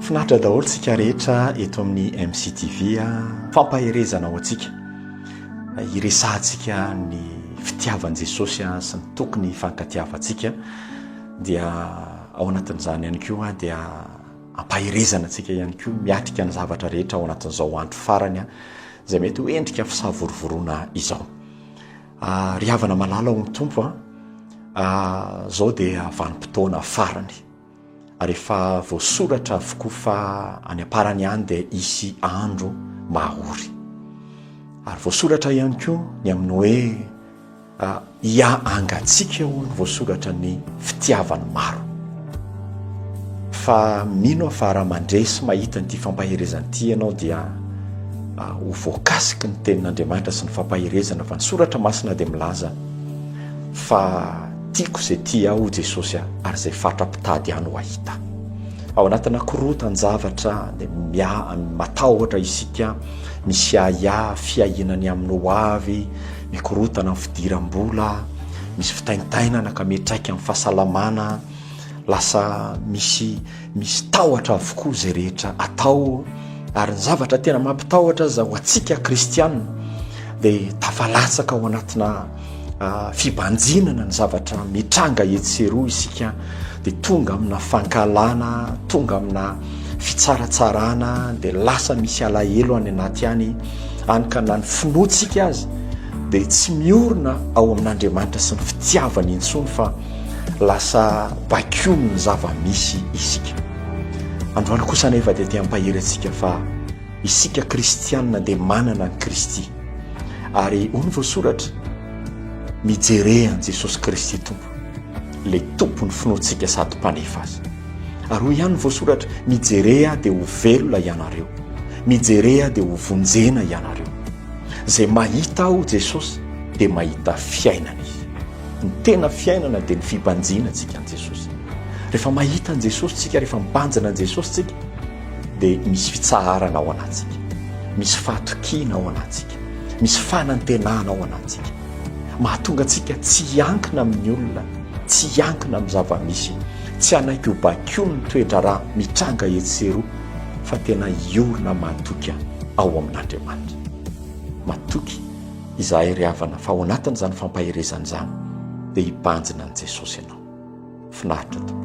Finaritra daholo tsika rehetra eto amin'ny MCTV a. Fampaherezana ho antsika. Iresahantsika ny fitiavan'i Jesosy a sy ny tokony hifankatiavantsika dia ao anatin'izany ihany koa dia ampaherezana antsika ihany koa miatrika ny zavatra rehetra ao anatin'izao andro farany a izay mety ho endrika fisavorovoroana izao. Ah, ry havana malala ao amin'ny Tompo an, ah, zao dia vanim-potoana farany, ary efa voasoratra avokoa fa any am-parany any dia hisy andro mahory. Ary voasoratra ihany koa ny amin'ny hoe ah, hiahangatsika hono voasoratra ny fitiavan'ny maro. Fa mino aho fa raha mandre sy mahita an'ity fampaherezana ity ianao dia ho voakasiky ny tenin'Andriamanitra sy ny fampaherezana fa ny soratra masina dia milaza fa tiako izay tia ahy hoy Jesosy ary izay fatra mpitady ahy no hahita ahy. Ao anatina korontan-javatra dia matahotra isika, misy ahiahy, fiahiana ny amin'ny hoavy, Mikorontana amin'ny fidiram-bola, misy fitaintainana ka miantraika amin'ny fahasalamana, lasa misy misy tahotra avokoa izay rehetra atao ary ny zavatra tena mampitahotra aza ho antsika kristianina dia tafalatsaka ao anatina ah, fibanjinana ny zavatra mitranga etsy sy eroa isika dia tonga amina fankalana, tonga amina fitsaratsarana dia lasa misy alahelo any anaty any any ka na ny finoantsika aza dia tsy miorina ao amin'andriamanitra sy ny fitiavany intsony fa lasa bakiony ny zava-misy isika androany kosa nefa dia te hampahery antsika fa isika kristianina dia manana ny kristy ary ony voasoratra mijerean'i jesosy kristy tompo Ilay Tompon'ny finoantsika sady Mpanefa azy. Ary hoy ihany ny voasoratra, Mijere Ahy dia ho velona ianareo. Mijere Ahy dia ho vonjena ianareo. Izay mahita Aho, Jesosy, dia mahita fiainana izy. Ny tena fiainana dia ny fibanjina antsika an'i Jesosy. Rehefa mahita an'i Jesosy tsika, rehefa mibanjina an'i Jesosy tsika, dia misy fitsaharana ao anatsika. Misy fahatokiana ao anatsika. Misy fanantenana ao anatintsika mahatonga antsika tsy hiankina amin'ny olona, tsy hiankina amin'ny zava-misy, tsy hanaiky ho bakion'ny toe-draharaha mitranga etsy sy eroa fa tena hiorina matoky ao amin'Andriamanitra. Matoky izahay ry havana fa ao anatin'izany fampaherezana izany dia hibanjina an'i Jesosy ianao. Finaritra tokoa.